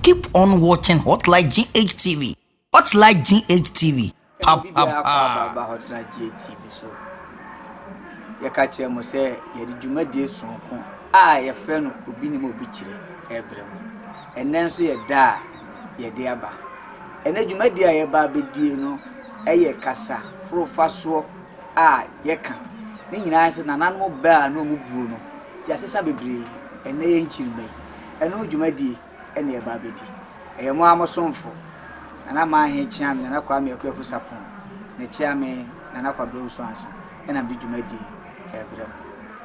Keep on watching Hotline GHTV. Hotline GHTV. Pa pa pa. Aba Hotline GHTV so. Yɛka kyerɛ mo sɛ yɛde dwumadie sonko a yɛfrɛ no obi nim obi kyerɛ ɛbrɛ mo. Ɛnɛ nso yɛ da a yɛde aba. Ɛnɛ dwumadie a yɛba abɛdie no ɛyɛ kasa horofa soɔ a yɛka ne nyinaa sɛ nananom bɛ a na wɔn buo no, yɛasesa bebree, ɛnnɛ yɛ nkyirimma yi, ɛno dwumadie na yɛba abɛdi. Ɛyɛ mo ara mo somfo, Nana Manhe Kyeame, Nana Kwame Akuaku Sarpong, ne Kyeame Nana Kwabena Owusu Ansah na mede dwumadie yi rebrɛ mo.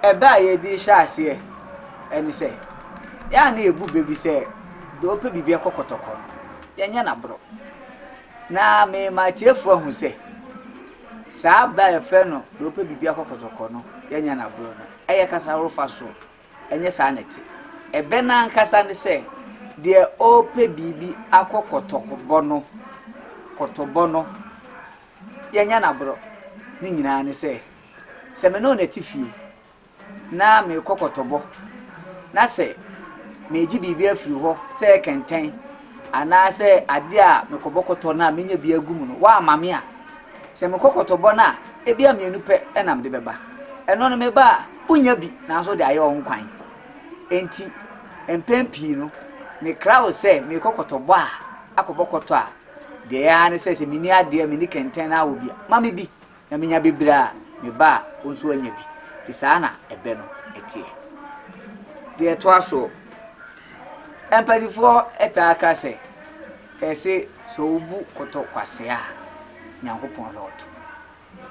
Ɛbɛ a yɛde hyɛ aseɛ ne sɛ, yɛn a na yɛbu bɛ bi sɛ deɛ ɔpɛ biribi kɔ kɔtɔkɔ no, yɛnyɛ no aborɔ. Na mema atiefoɔ ahu sɛ, Saa bɛ a yɛfrɛ no deɛ ɔpɛ biribi akɔ kɔtɔkɔ no yɛ nya no agorɔ no, ɛyɛ kasa horow fa so? Ɛnyɛ saa na ɛte. Ɛbɛ no ankasa ne sɛ, deɛ ɔrepɛ biribi akɔ kɔtɔkɔbɔ no, kɔtɔbɔ no, yɛ nya no agorɔ. Ne nyinaa ne sɛ, sɛ me ne wo na ɛte fie, na merekɔ kɔtɔbɔ, na sɛ meregye biribi afiri hɔ sɛ kɛntɛn anaasɛ adeɛ a mekɔbɔ kɔtɔ no a menya bi agu mu no, woamma me a, sɛ mekɔ kɔtɔbɔ no a, ebia mmienu pɛ na mede bɛba. Ɛno no, meba a, wonya bi, nanso wode ayɛ wo ho kwan. Enti, mpɛn pii no, mekra wo sɛ merekɔ kɔtɔbɔ a, akɔbɔ kɔtɔ a, deɛ ɛyɛ ara ne sɛ, sɛ menni adeɛ, menni kɛntɛn na wɔ bi a, ma me bi. Na menya bebree a, me ba a wo nso woanya bi. Nti saa na ɛbɛ no teɛ. Deɛ ɛtoa soɔ, mpaninfoɔ taa ka sɛ, ɛse sɛ wobu kɔtɔ kwasea a, Nyankopɔn hwɛ ɔto.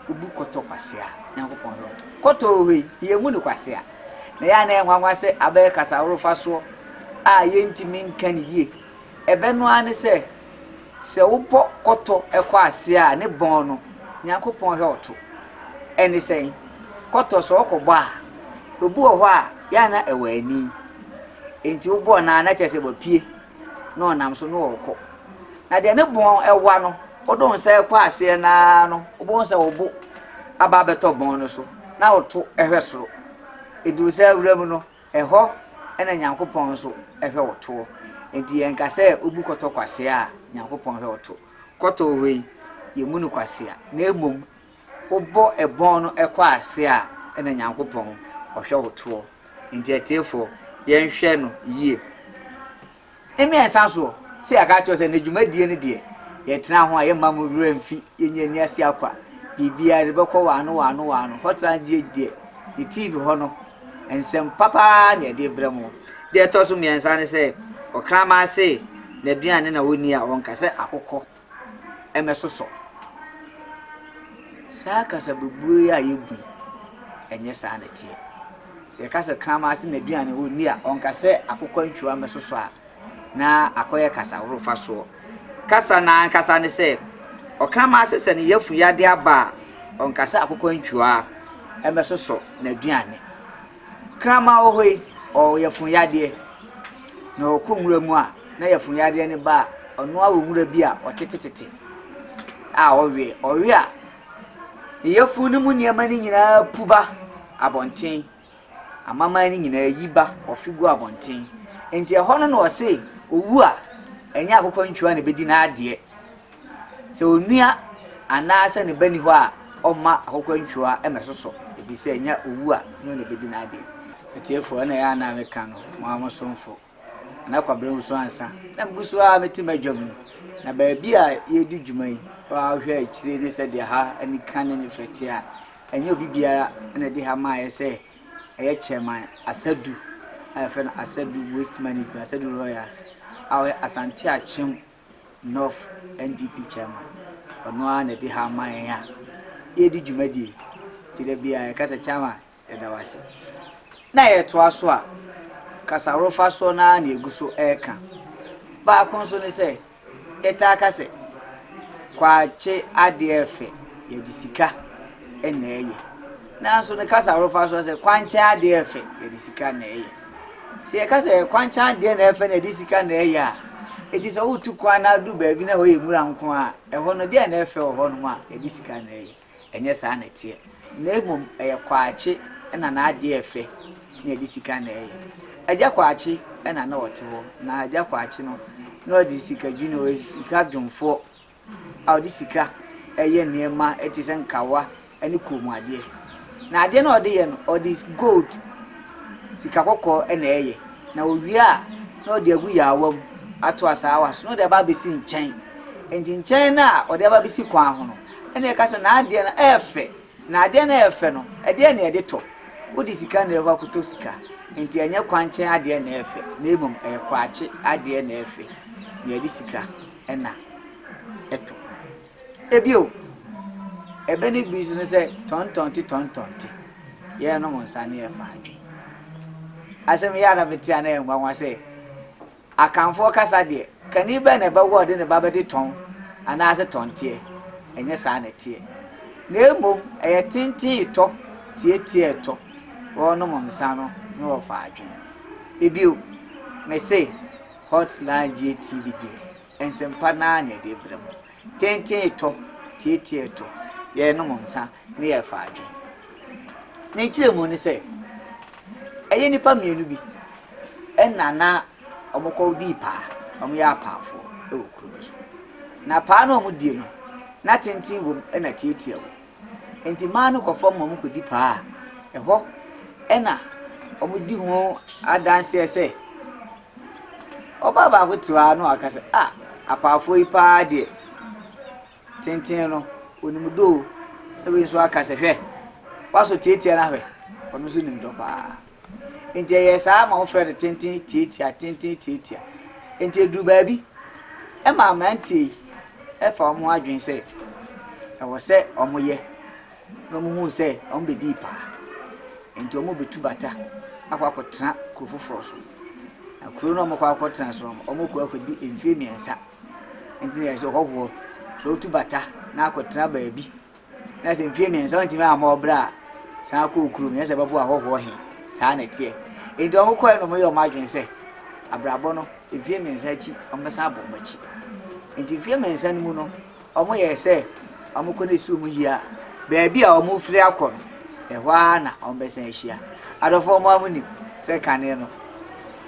Wobu kɔtɔ kwasea a, Nyankopɔn hwɛ ɔto. Kɔtɔ wɔ hɔ yi, yɛmmu no kwasea. Na ɛyɛ a na ɛyɛ nwanwa sɛ abɛyɛ kasaworofasoɔ a yɛntumi nka no yie. Ɛbɛ no ara ne sɛ, Sɛ wo pɔ kɔtɔ kɔ ase a ne bɔn no Nyankopɔn hwɛ wo to. Ɛne sɛn? Kɔtɔ sɛ ɔkɔ bɔ a, obi wɔ hɔ a yɛ a na ɛwɔ ani. Enti wo bɔɔ no a na kyerɛ sɛ wapue na ɔnam so na ɔrekɔ. Na deɛ ne bɔn ɛwa no, wode wo nsa kɔ aseɛ no ara no, wobɛhu sɛ wo bo aba abɛtɔ bɔn no so na woto hwɛ soro. Ɛduru saa wura mu no, Ɛhɔ na Nyankopɔn nso hwɛ wo toɔ. Enti yɛnka sɛ wobu kɔtɔ kwasea a, Nyankopɔn hwɛ wo to. Kɔtɔ wɔ hɔ yi, yɛmmu no kwasea. Na mmom, wobɔ ɛbɔn no kɔ ase a, ɛna Nyankopɔn, Ɔhwɛ wo toɔ. Enti atiefoɔ, yɛnhwɛ no yie. Emi a ɛsan soɔ sɛ yɛaka akyerɛ wo sɛ n'adwumadie no deɛ yɛtena ho a yɛmma mo werɛ mfi, yɛnyi ani ase akwa, biribiara yɛde bɛkɔ wɔ ano wɔ ano wɔ ano, Hotline GH deɛ ne TV hɔ no nsɛm papa ara na yɛde brɛ mo. Deɛ ɛtɔ so mmiɛnsa ne sɛ, Ɔkraman se n'aduane na ɔnni a ɔnka sɛ akokɔ. mmɛsosɔ. Saa kasabebuo yi a yɛbu yi, ɛnyɛ saa na ɛteɛ. Sɛ yɛka sɛ kraman ase n'aduane ɔnni a, ɔnka sɛ akokɔantwiwa mmɛsosɔ a na akɔyɛ kasahorow fa soɔ. Kasa no ankasa ne sɛ, ɔkraman ase sɛ ne yafun yadeɛ aba a, ɔnka sɛ akokɔantwiwa mmɛsosɔ n'aduane. Kraman wɔ hɔ yi, ɔwɔ yafunyadeɛ, na ɔkɔ nwura mu a, na yafunyadeɛ no ba a, ɔno ara wɔ nwura bi a ɔtetetete a ɔwe. Ɔwe a, ne yafunu no mu nneɛma no nyinaa pu ba abɔnten. Amaman no nyinaa yi ba, ɔfe gu abɔnten. Enti ɛhɔ no na ɔse, owu a, ɛnyɛ akokɔntwua na ɛbɛdi n'adeɛ. Sɛ onua anaasɛ ne ba nni hɔ a, ɔmma akokantwua mmɛsosɔ, efisɛ ɛnyɛ owu a ne ho na ebedi n'ade. Atiefo, ɛna ɛyɛ a na meka no, mo ara mo somfo. Na na Kwabena nwoso ansa, na migu so ara mete m'adwa mu. Na baabi a yɛredi dwuma yi, wo a wohwɛ akyiri ne sɛdeɛ ha ani ka ne ne fɛ te a, ɛnyɛ obi biara na ɛde ha maaeɛ sɛ ɛyɛ chairman Asadu a yɛfrɛ no Asadu Waste Management, Asadu Royals, a ɔyɛ Asante Akyem North NDP chairman, ɔno ara na ɛde haw ma yɛn a yɛredi dwumadie yi. Nti da biara yɛka sɛ chairman yɛda wo ase. Na yɛtoa so a, kasarofa soɔ no ara na yɛgu so reka. Baako nso ne sɛ, yɛtaa ka sɛ kwakye adeɛ fɛ, yɛde sika na ɛyɛ. Nanso ne kasa horow fa so ara sɛ kwankyɛn ade a ɛfɛ, yɛde sika na ɛyɛ. Sɛ yɛka sɛ kwankyɛn adeɛ na ɛfɛ na yɛde sika na ɛyɛ a, enti sɛ wotu kwan na adu baabi na hɔ yɛ nwura nko a, ɛhɔ no deɛ na ɛfɛ wɔ hɔnom a, yɛde sika na ɛyɛ. Ɛnyɛ saa na ɛteɛ. Na mmom ɛyɛ Kwakye na n'adeɛ a ɛfɛ na yɛde sika na ɛyɛ. Agya Kwakye na na ɔte hɔ, na Agya Kwakye no, na ɔde sika dwini, ɔyɛ sika dwomfoɔ. a wɔde sika yɛ nneɛma te sɛ nkawa ne kɔnmuadeɛ. Na adeɛ no a wɔde yɛ no, wɔde gold, sika kɔkɔɔ na ɛyɛ. Na wɔwie a, na wɔde agu yaawa mu ato asaawa so na wɔde aba abɛsi nkyɛn. Enti nkyɛn no a wɔde aba abɛsi kwan ho no, ɛna ɛka sɛ n'adeɛ no ɛyɛ fɛ. Na adeɛ no a ɛyɛ fɛ no, ɛdeɛ na ɛde tɔ. Wode sika na ɛkɔ akɔtɔ sika. Enti ɛnyɛ kwankyɛn adeɛ na ɛyɛ fɛ, na mmom ɛyɛ kwakye adeɛ na ɛyɛ fɛ, na ɛde sika. na ɛtɔ. Bio, ɛbɛ no bi nso ne sɛ tɔntɔnte tɔntɔnte, yɛnom nsa ne yɛfa adwe. Asɛm yɛ ana mete a na yɛ nwanwa sɛ akanfoɔ kasa deɛ kani bɛn na ɛbɛwɔ ɔde ne ba bɛde tɔn anaasɛ tɔnteɛ ɛnyɛ saa na ɛteɛ na mmom ɛyɛ tenten tɔ tietie tɔ wɔnom nsa no na wɔfa adwene ebio mese Hotline GTV deɛ, nsɛmpa no ara na ɛde brɛ mo. Tenten ɛtɔ, tietie ɛtɔ, yɛrenom nsa na yɛrefa adwene. Ne nkyerɛmu ne sɛ, ɛyɛ nnipa mmienu bi ɛna na wɔkɔdii paa, wɔyɛ apaafoɔ wɔ kuro bi so. Na paa no a wɔdie no, na tenten wom ɛna tietie wom. Nti mmaa no kɔ fam ma wɔkɔdi paa a, ɛhɔ ɛna wɔdi ho adanseɛ sɛ, Ɔbaa baako te hɔ ara na waka sɛ, ah, apaafoɔ yi paa deɛ, tenten no, wɔnim dɔ o. Na wei nso aka sɛ, hwɛ, w'asɔ tiatia no ahwɛ, ɔno nso nim dɔ paa. Nti ɛyɛ saa ma wɔfrɛ no tenten tiatia, tenten tiatia. Nti ɛduru baabi, ɛma mmeranteɛ yi ɛfa wɔn ho adwene sɛ, ɛwɔ sɛ wɔyɛ. Na wɔhuu sɛ wɔbɛdii paa, enti wɔbɛtu bata akɔ akɔtena kuro foforɔ so. Na kuro no a wɔkɔ akɔtena so no, wɔkɔ akɔdi mfeɛ mmiɛnsa. Nti na ɛsɛ ɔhɔhoɔ sɛ ɔtu bata na akɔtena baabi. Na sɛ mfeɛ mmiɛnsa wɔntumi amma ɔbrɛ a, san akɔ kuro mu, yɛ sɛ bɛboa ɔhɔhoɔ he. Saa na ɛteɛ. Nti wɔkɔɛ no wɔyɛ wɔn adwene sɛ, abrabɔ no, mfeɛ mmiɛnsa akyi, wɔbɛsan abɔ wɔn akyi. Nti mfeɛ mmiɛnsa no mu no, Wɔyɛɛ sɛ wɔkɔ ne sum hia baabi a wɔrefiri akɔ no, ɛhɔ ara na wɔbɛsan ahyia. Adɔfoɔ mo a monim sɛ kane no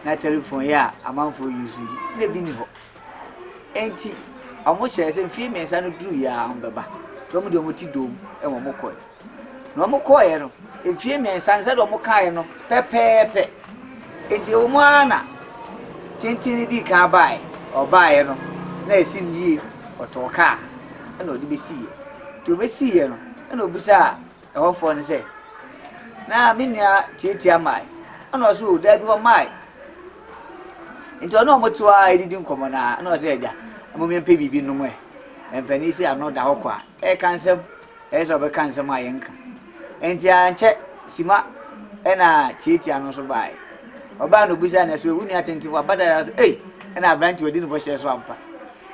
na telefon yi a amanfoɔ use yi na bi nni hɔ. Enti wɔhyɛɛ sɛ mfeɛ mmiɛnsa no duruiɛ a wɔbɛba. Nti wɔn deɛ wɔte doo mu na wɔkɔe. Na wɔkɔeɛ no, mfeɛ mmiɛnsa no sɛdeɛ wɔkaeɛ no pɛpɛɛpɛ. Enti ɛwɔ mu ara na tenten no dii kan baeɛ, ɔbaeɛ no na ɛsi no yie, ɔtɔɔ kaa ɛna ɔde bɛsiiɛ. Nti ɔbɛsiiɛ no ɛna ɔbisaa ɛhɔfoɔ no sɛ, na me nua tiatia mae? Ɛna ɔsɛ o daabi ɔmae. Nti ɔne ɔmo to ara ɛdidi nkɔmmɔ no ara ɛna ɔsɛ agya, mmom yɛmpɛ biribi nom ɛ. Mpanin sɛ ano da hɔ kwa. Ɛka nsɛm, ɛyɛ sɛ ɔbɛka nsɛm a yɛnka. Enti ankyɛ Sima ɛna Tiatia no nso baeɛ. Ɔbaa no obisaa no ɛsɛ wo nua tenten waba da yɛn sɛ ei ɛna aberante wadi ne bɔhyɛ so ampa.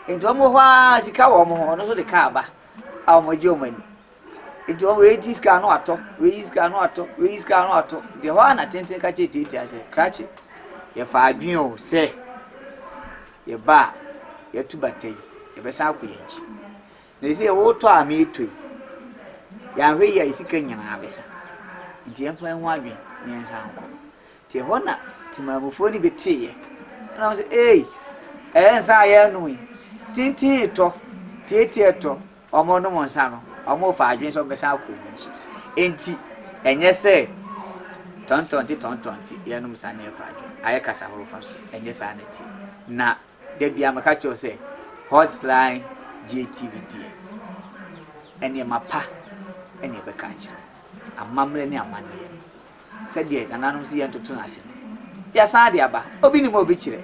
Enti wɔn wɔ hɔ ara sika wɔ wɔn ho ɔno nso de kaa ba a wɔn agye wɔn ani. Enti wɔn wei gye sika ano atɔ wei yi sika ano atɔ wei yi sika ano atɔ deɛ hɔ ara na tenten ka kyerɛ Tiatia sɛ krakye yɛfa adwene o sɛ yɛba a yɛtu bata yi yɛbɛsan akɔ yɛn akyi. Na ese yɛ wotɔ a me tɔ yi. Yɛanhwɛ yie a yɛ sika nyinaa bɛsa. Nti yɛmfa yɛn ho adwene na yɛnsan nkɔ. Nti ɛhɔ na temammufoɔ no bi teeɛ. Ɛna wɔn sɛ, ei, ɛyɛ nsa a yɛanom yi. Tintin tɔ, tietie tɔ. Wɔn nom nsa no, wɔn fa adwene sɛ wɔbɛsan akɔ wɔn akyi. Nti ɛnyɛ sɛ tɔntɔnte tɔntɔnte yɛnom nsa na yɛfa adwene. Ayɛ kasa horofa so. Ɛnyɛ saa na ɛte. Na Da biara meka kyerɛ wo sɛ Hotline gye TV die. Nneɛma pa na ɛbɛka akyerɛ wo. Amammerɛ ne amanneɛ no, sɛdeɛ nananom se yɛntoto no ase no, yɛasan de aba. Obi nim a obi kyerɛ.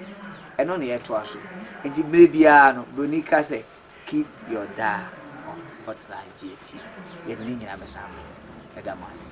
Ɛno na yɛtoa so. Enti mmerɛ biara no, buroni ka sɛ, Keep your dial on Hotline gye TV. Yɛde ne nyinaa bɛsan aba. Meda mo ase.